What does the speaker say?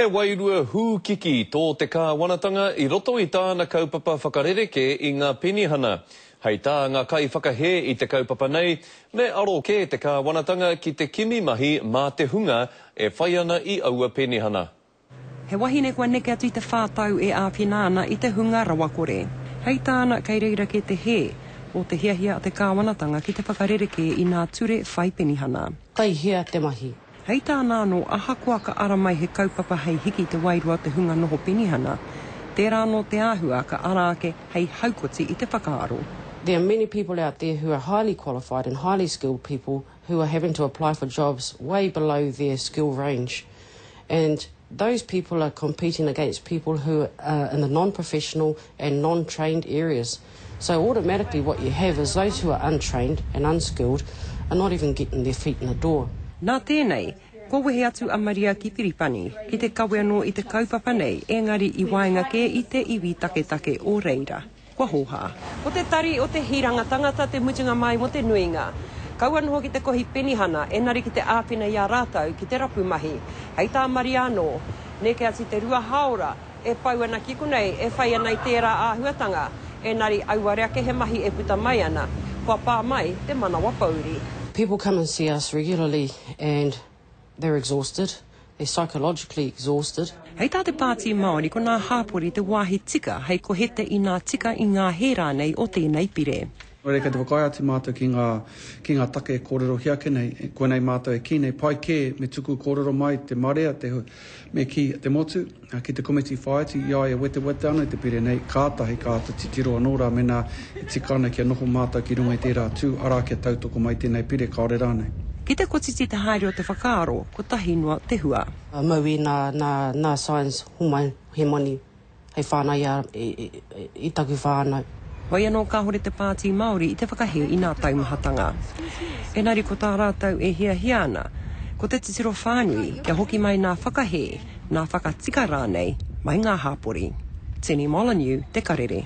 He wairua hūkiki tō te kāwanatanga i roto i tāna kaupapa whakarerekē i ngā penihana. Hei tā ngā kaiwhakahē i te kaupapa nei, me aro kē te kāwanatanga ki te kimi mahi mā te hunga e whai ana i aua penihana. He wahine kua neke atu i te whā tau e āwhina ana i te hunga rawakore. Hei tāna, kei reira kē te hē o te hiahia a te kāwanatanga ki te whakarerekē i ngā ture whai penihana. Kei hea te mahi? Hei tāna anō, ahakoa ka ara mai he kaupapa hei hiki i te wairua o te hunga noho penihana, tērā anō te āhua ka ara ake hei haukoti i te whakaaro. There are many people out there who are highly qualified and highly skilled people who are having to apply for jobs way below their skill range and those people are competing against people who are in the non-professional and non-trained areas. So automatically what you have is those who are untrained and unskilled are not even getting their feet in the door. Nā tēnei, kua wehe atu a Maria ki Piripani, ki te kawe anō i te kaupapa nei engari i waenga kē i te iwi taketake o reira. Kua hōhā. Ko te tari o te hiranga tangata te mutunga mai mo te nuinga. Kaua noho ki te kohi penihana enari ki te āwhina i a rātou ki te rapu mahi. Hei tā Maria anō, Neke atu te rua hāora, e pau ana ki konei, e whai ana i tērā āhuatanga, ēnari auare ake he mahi e puta mai ana, kua pā mai te manawa pouri. People come and see us regularly and they're exhausted, they're psychologically exhausted. Hei tā te Pāti Māori ko nā hāpori te wāhi tika hei kohete inā tika i ngā hē rānei o tēnei pire. Haere kei te whakaae atu mātou ki ngā, ki ngā take e kōrerohia ake nei, koinei mātou e kī nei, pai kē me tuku kōrero mai te marea, te, me kī, te motu, ki te komiti whāiti, i a ia wetewete ana i te pire nei, kātahi ka āta titiro anō rā mēnā e tika ana kia noho mātou ki runga i tērā tū, arā, kia tautoko mai tēnei pire, kāore rānei. Ki te kotiti te haere o te whakaaro, kotahi noa te hua. Mauī nā, nā, nā Science homai he moni. hei whānau ia i taku whānau. Wai anō kāore te Pāti Māori i te whakahē i nā taumahatanga. Engari ko tā rātou e hiahia ana, ko te titiro whānui kia hoki mai nā whakahē, nā whakatika rānei mai ngā hāpori. Tini Molyneux, Te Karere.